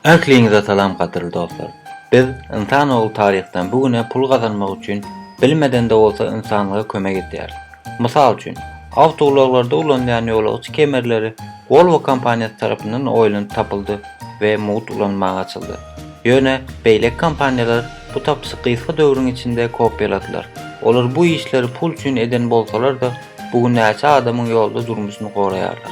Ähliňize salam gadyrly dostlar. Biz, ynsan ogly taryhdan bu güne pul gazanmak üçin bilmedende bolsa ynsanlyga kömek edýäris. Mysal üçin, awtoulaglarda ulanylýan ýolagçy kemerleri Volvo kompaniýasy tarapyndan oýlanyp tapyldy we mugt ulanmaga açyldy. Ýöne beýleki kompaniýalar bu tapyşy gysga döwrüň içinde kopýaladylar. Olar bu işleri pul üçin eden bolsalar-da, Bu gün näçe adamyň ýolda durmuşyny goraýarlar.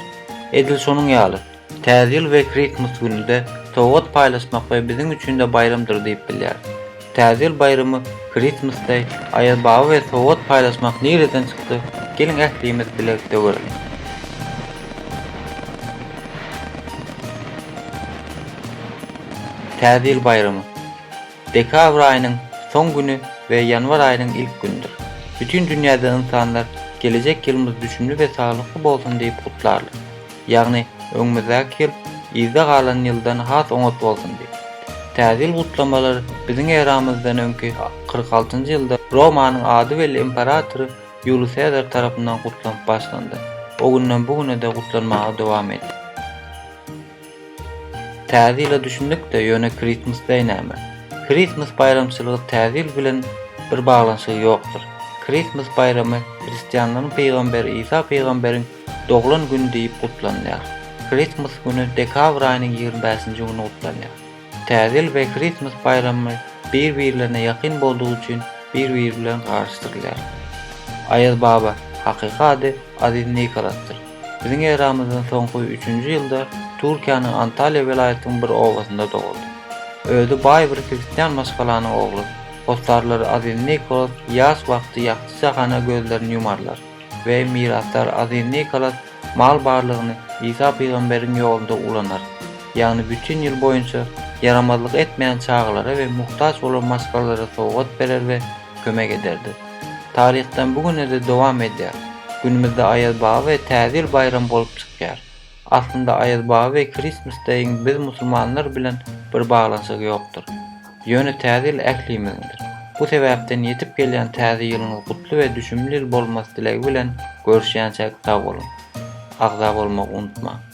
Edil şonuň ýaly, Täze ýyl we Krismas güni-de sowgat paýlaşmak we biziň üçin-de baýramdyr diýip bilýäris. Täze ýyl baýramy, Christmas Day, Aýaz baba we sowgat paýlaşmak nireden çykdy, geliň ählimiz bilelikde göreliň. Täze ýyl baýramy. Dekabr aýynyň soň güni we ýanwar aýynyň ilk günüdir. Bütin dünýäde ynsanlar gelejek ýylymyz düşümli we saglykly bolsun diýip gutlarlar. Ýagny öňümizdäki ýyl yzda galan ýyldan has oňat bolsun diýip. Täze ýyl gutlamalary biziň eramyzdan öňki kyrk altynjy ýylda Romanyň ady belli imperatory Ýuliý Sezar tarapyndan gutlanyp başlandy. O günden bu güne-de gutlanmaga dowam edýär. Täze ýyla düşündik-de, ýöne Krismas deý näme? Krismas baýramçylygy Täze ýyl bilen bir baglanyşygy ýokdur. Krismas baýramy hristianlaryň pygamberi Isa pygamberiň doglan güni diýip gutlanylýar. Krismas güni dekabr aýynyň ýigrimi bäşinji güni gutlanýar. Täze ýyl we Christmas baýramy bir-birlerine ýakyn boldugy üçin bir-biri bilen garyşdyrylýar. Aýazbaba, hakyky ady Aziz Nikolasdyr. Biziň eramyzdan soňky üçünji ýylda Türkiýäniň Antalýa welaýatynyň bir obasynda doguldy. Özi baý bir hristian maşgalanyň ogly. Hossarlar Aziz Nikolas ýaş wagty ýagty jahana gözlerini ýumarlar. we mirasdar Aziz Nikolas mal barlygyny Isa pygamberiň ýolunda ulanar, ýagny bütin ýyl boýunça ýaramazlyk etmeýän çagalara we muhtaç bolan maşgalalara sowgat berer we kömek ederdi. Taryhdan bu günede dowam edýär. Günümizde Aýazbaba we Täze ýyl baýramy bolup çykýar. Aslynda Aýaz baba we Christmas Day-iň biz musulmanlar bilen bir baglanyşygy ýokdur. Ýöne Täze ýyl ählimiziňdir. Bu sebäpden ýetip gelýän Täze ýylyňyz gutly we düşümli ýyl bolmasy dilegi bilen görüşýänçäk sag boluň. Agza bolmagy unutmaň.